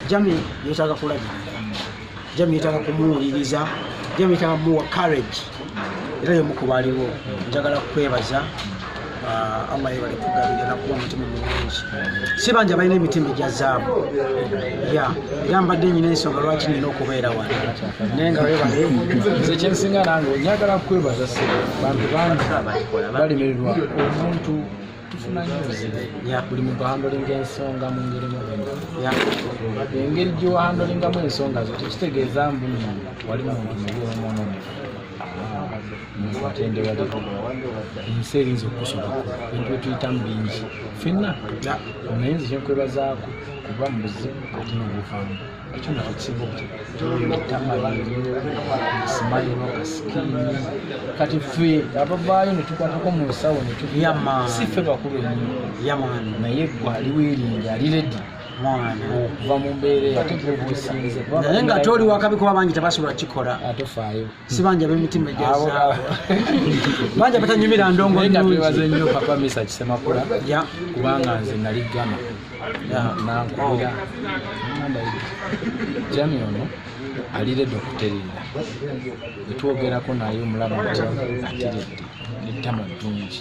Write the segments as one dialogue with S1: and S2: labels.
S1: jami yetaaga kulabirira jami yetaaga kumuwuliriza jami yetaaga muwa courage era yomukuba aliwo njagala kukwebaza ah, allah yebale kugabira nakuwa omutima mulungi si bangi abalina emitima egya zaabu ya era mbadde nyina ensonga lwaki nina okubeera wano naye nga webale nze kyensinga
S2: nange njagala kukwebaza se bantu bangi balimirwa omuntu buli muntu ahandolinga ensonga mu ngeri engeri gyohandolingamu ensonga zo tekitegeeza mbu wali muntu mubi omwononefu atendewali ensi erinza okukusobako bintu byetuyitamu bingi fenna naye nze kyenkwebazaako kuba mu buzibu ate nobufamu ekyo nakyo kibu etama esimayiro kasikini kati ffe abavaayo netukwatako mu nsawo si ffe bakulu enyo naye gwe aliwo eringi ali redi okuva mu mbeera eyo ate gwebusinze naye nga toli
S1: wakabi kuba bangi tebasobola kikola atofaayo ah,
S2: sibanja bemitima
S1: egyazaabo banja batanyumira ndongo nga twebaze nnyo
S2: papa misa kisemakula kubanga nze nali gama nankubira jami ono aliredde okuterera etwogerako naye omulaba ati atiredde nettama ddungi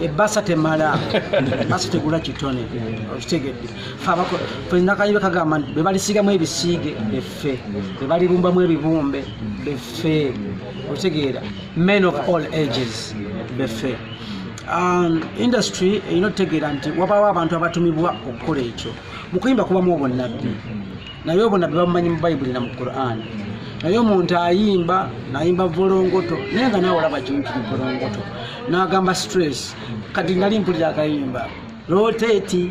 S1: ebbasa temala basa tegula kitone okitegedde fenakayiro kagamba nti bebalisigamu ebisiige beffe bebalibumbamu ebibumbe beffe okitegeera men of all ages beffe um, industry erina otutegeera nti wabawo abantu abatumibwa okukola ekyo mukuyimba kubamu obunabbi naye obwo nabbi bamumanyi mu bayibuli na mu qur'an naye omuntu ayimba nayimba volongoto naye nga nawe olaba kimukiri volongoto nagamba stress kati nali mpulira akayimba roteti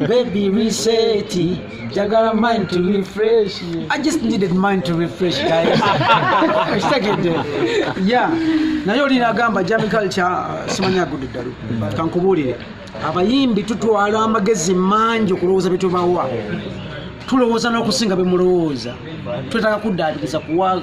S1: baby reseti jagala mind to refresh i just needed mind to refresh guystegede ya naye oli nagamba jami culture simanya gudu ddalu kankubuulire abayimbi tutwala amagezi mangi okulowooza byetubawa tulowooza n'okusinga bemulowooza twetaaga kuddaabiriza kuwa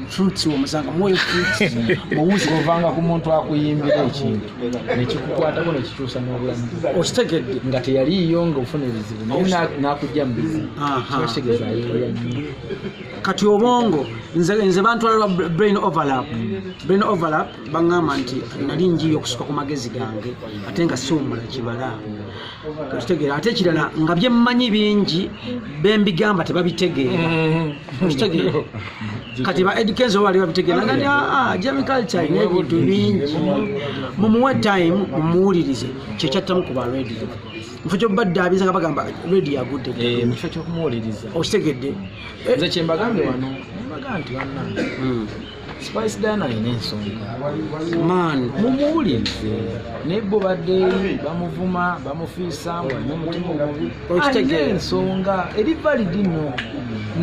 S1: fruits omusanga mwoyo fruits muwuzi ovanga ku muntu
S2: akuyimbira ekintu nekikukwatako nekikyusa n'obulamu okitegedde nga
S1: teyaliiyo
S2: nga ofuna ebizibu naye nakujja mu bizibu kitegeeza ayeeya kati
S1: obongo nze bantwala lwa brain overlap brain overlap baŋŋamba nti nali njiri okusuka ku magezi gange ate nga siwumula kimala okitegeera ate ekirala nga bye mmanyi bingi be mbigamba tebabitegeera mm-hmm. okitegeera kati ba edkens oba bali babitegeera nga aa ah, ah, jami culture alina ebintu bingi mumuwe time mumuwulirize kyekyattamu ku ba radio mufo kyoba ddaabiza nga bagamba radio agudde eh, mukifo kyokumuwuliriza
S2: okitegedde
S1: nze kyembagambye
S2: wano mbaga nti banna hmm. Spice Diana alina ensonga man
S1: mumuwulirize
S2: naye bo baddeeri bamuvuma bamufiisamu alina omutima omubi alina ensonga eri validi no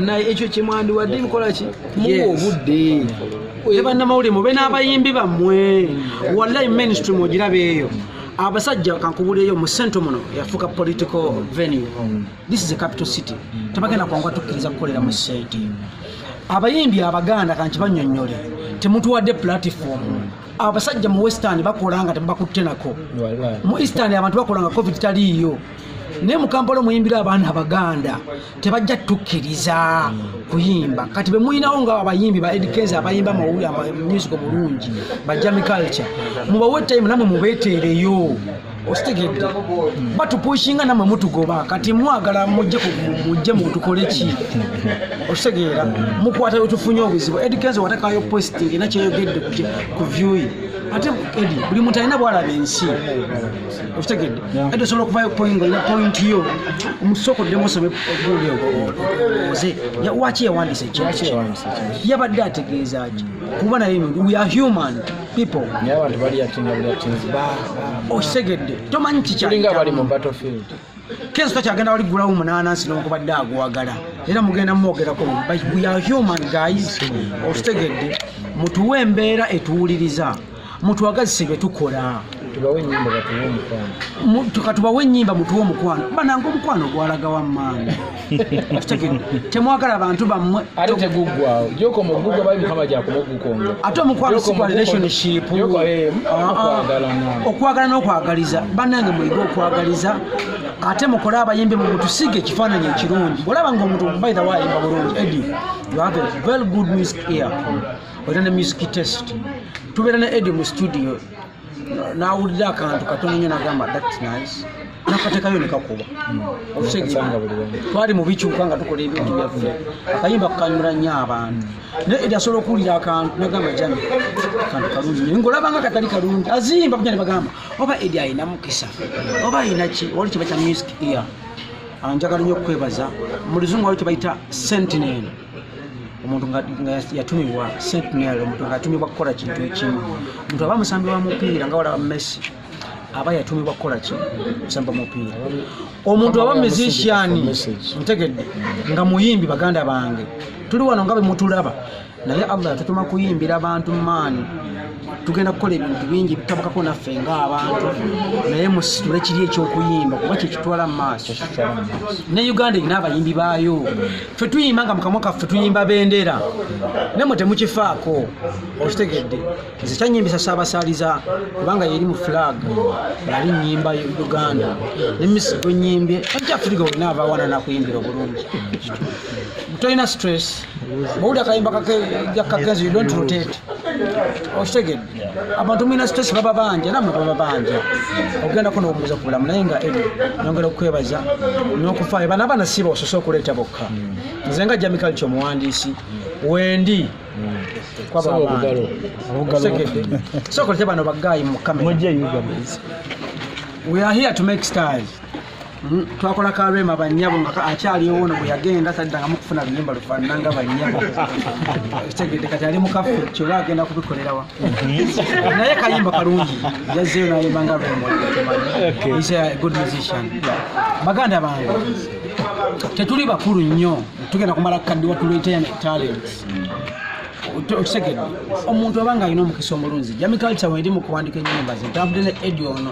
S2: naye ekyo kyemwandiwadde bikola ki muwa obudde ne bannamawulire
S1: mube n'abayimbi bammwe wallahi mainstream ogiraba eyo abasajja kankubuleeyo mu sente muno yafuuka political venue this is a capital city mm. tebagenda kwanguwa tukkiriza kukolera mu site mm. abayimbi abaganda kanti banyonyole temutuwadde platform mm. abasajja mu western bakola nga tebakutte nako mu eastern abantu bakola nga covid taliiyo naye mukampala omuyimbira abaana abaganda tebajja tukkiriza kuyimba kati bemulinawo nga abayimbi ba edkens abayimba music omulungi bajami culture mubawe time namwe mubeteereyo okitegedde batupushinga namwe mutugoba kati mwagala mujje mujje mutukole ki okitegeera mukwata yotufunye obuzibu edikenzi watakayo posti era kyeyogedde ku vyuyi ate edi buli muntu alina bwalaba ensi okitegedde edi osobola okuvayo poingo na pointi yo omusooka oddemu osome oguli oze waki yawandisa ekintu yabadde ategeeza ki kuba naye we are human people naye abantu bali yatinga
S2: buli yatinzi ba okitegedde tomanyi kikyalinga
S1: bali
S2: mu battlefield
S1: kenzo takyagenda wali gulawo munanansi nokubadde aguwagala era mugenda mwogerako but we are human guys okitegedde mutuwe embeera etuwuliriza mutwagazise byetukola tukatubawo enyimba mutuwe omukwano bananga omukwano gwalagawa maani temwagala bantu bammwe ate teguggwawo gyokoma okugugga bali mukama gyakumuggukonga ate omukwano sigwa relationship eh, ah, ah. okwagala n'okwagaliza bannange muyige okwagaliza ate mukole abayimbi mu mutusige ekifaananyi ekirungi olaba nga omuntu by the way ayimba bulungi edi you have a very good music ear olina ne music test tubeera ne edi mu studio nawulira akantu katono nyo nagamba that's nice nakatekayo nekakuba twali mubikyuka nga tukola ebintu byaffe akayimba kukanyura nyo abantu naye eri asobola okuwulira akantu nagamba jami kantu kalungi nyo ngaolabanga katali kalungi azimba buja nebagamba oba eri ayina mukisa oba ayina ki oli kiba kya music ear anjagala nyo okukwebaza mulizungu wali tebayita sentinel omuntu nga yatumibwa sentinel omuntu nga yatumibwa kukola kintu ekimu omuntu aba musambi wa mupiira nga walaba messi aba yatumibwa kukola ki kusamba mupiira omuntu aba musician ntegedde nga muyimbi baganda bange tuli wano nga bemutulaba naye allah yatutuma kuyimbira bantu maani tugenda kukola ebintu bingi bitabukako naffe ngaabantu naye musitule kiri ekyokuyimba kuba kyekitwala mu maaso ne uganda erina abayimbi baayo fe tuyimba nga mukamwa kaffe tuyimba bendera naye mwe temukifaako okitegedde nze kyanyimbisa saabasaaliza kubanga yeri mu flag yali nyimba uganda ne misi gwenyimbye akyafiriga olina abawana nakuyimbira obulungi tolina stress bwowulira akayimba kakenzi you don't rotate okitegedde abantu mulina stress baba banja namwe baba banja okugendako nobuuza ku bulamu naye nga edi nyongera okukwebaza nokufaayo bana abaana siba osose okuleeta bokka nze nga jamikali kyomuwandiisi wendi sokolete bano bagayi mukamera we are here to make stars Hmm, twakola ka rema banyabo nga akyaliwo ono bwe yagenda taddangamu kufuna luyimba lufaanana nga banyabo kitegedde kati ali mukafe kyoba agenda kubikolerawa hmm. naye kayimba kalungi yazzeyo nayimba nga rema is a good musician baganda bange tetuli bakulu nnyo tugenda kumala kukaddiwa tuleeta talent okitegedde omuntu aba nga alina omukisa omulunzi jamikalca weeri mu kuwandika ennyimba ze ntambudde ne edi ono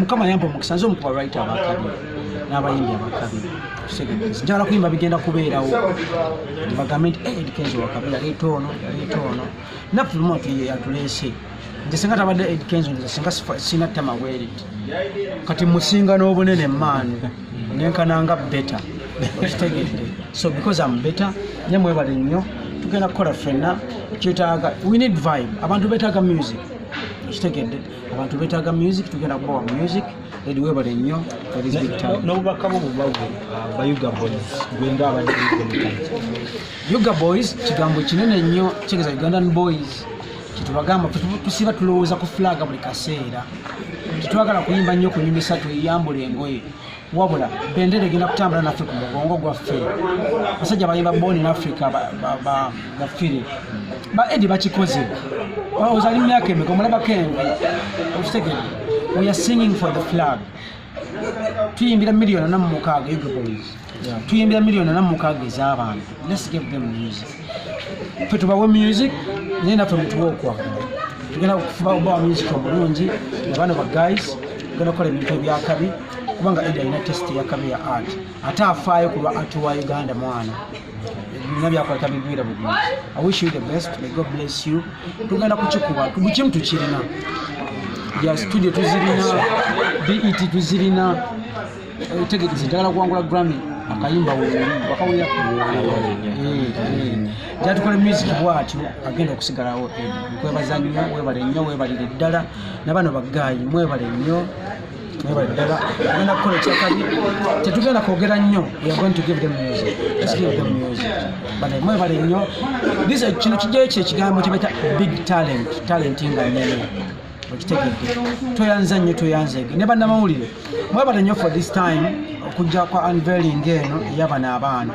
S1: mukama yamba omukisa nze omukuba right abakabi n'abayimbi abakabi njagala kuyimba bigenda kubeerawo bagambe nti eh, edkenzo wakabi yaleeta ono yaleeta ono naffe lumu yatuleese nze singa tabadde edkenzo nze singa sina ttama bweriti kati musinga n'obunene maani nenkananga beta okitegedde so because am beta nye mwebale nnyo tugenda kukola fenna kyetaaga we need vibe abantu betaaga music okitegedde abantu betaaga music tugenda kubawa music edi webale nnyo n'obubaka
S3: bwo bubawe uh, bayuga boys gwenda abadde
S1: yuga boys kigambo kinene nnyo kitegeeza ugandan boys kyetubagamba tusiba tulowooza ku flag buli kaseera tetwagala kuyimba nnyo kunyumisa tuyambula engoye wabula bendera egenda kutambula naffe ku mugongo gwaffe basajja bayimba born in africa bafire ba edi bakikoze ozali mumyaka emeka omulabako envi okitegere we are singing for the flag tuyimbira miliyoni ana mumukaaga egoboys tuyimbira miliyoni ana mumukaaga ez'abantu let's give them music fe tubawe music naye naffe mutuwa okwagala tugenda okufuba obawa music omulungi abaana ba guys tugenda okukola ebintu ebyakabi kubanga edi alina tesiti yakabi ya art ate afaayo kulwa art wa uganda mwana bina byakola tabigwira bugwira i wish you the best may god bless you tugenda kukikuba bukimu tukirina ya studio tuzirina bet tuzirina eh, tegekezi njagala kuwangula grammy akayimba wakawulira jatukola eh, eh. music bwatyo agenda okusigalawo nkwebaza nnyo webale nnyo webalire ddala nabano bagaayi mwebale nnyo mwebale ddala agenda kukola ekyakabi tetugenda kwogera nnyo bane mwebale nnyo bize kino kijjayo kye ekigambo kyebaita big talent talent nga nene okitegedde tweyanza nnyo tweyanzege ne bannamawulire mwebale nnyo for this time okujja kwa unveiling eno eyabana abaana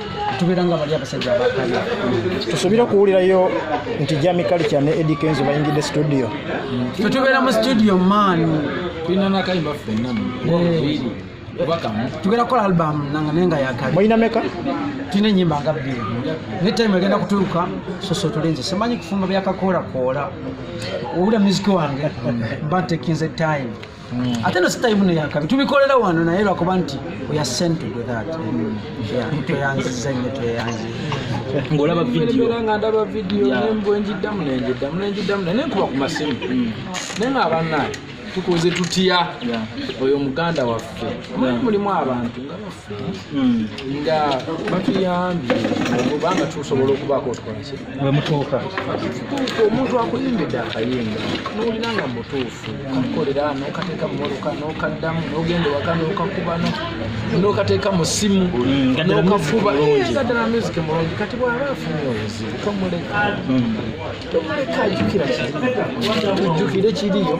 S1: tubeera nga bali abasajja abakabi tusuubira
S4: okuwulirayo nti jami kalica ne edi kenzo bayingidde studio tetubeera
S1: mu studio maanu tulina nakayimba
S2: ffenna
S1: tugenda kukola album nanga naye nga yakali mulina meka
S4: tulina enyimba
S1: nga bbiri naye time egenda kutuuka soso tulinze simanyi kufumba byakakoolakoola owulira muziki wange mba ntekinze time Mm. ate no sitayimu neyakabi tubikolera wano naye lwakuba nti tweyanziza nyo tweyanzi ngaolaba vidiyoera
S2: nga ndaba vidiyo nembwenjiddamu nenjiddamu nenjiddamu naye nenkuba ku masimu mm. naye nga abannaye tukoze tutya oyo muganda waffe mulimu abantu Hmm. nga batuyambye obanga tusobola okubaako otukolaki wemutuuka
S4: tutuuka
S2: omuntu akuyimbidde akayimba nowulira nga mutuufu kakukolera nokateeka mumotoka nokaddamu nogenda ewaka nokakuba nokateeka mu simu hmm, nokafubaddala music mulungi kati bwaba afunye obuzibu tomuleka hmm. tomuleka ajukira kiri ojukire kiriyo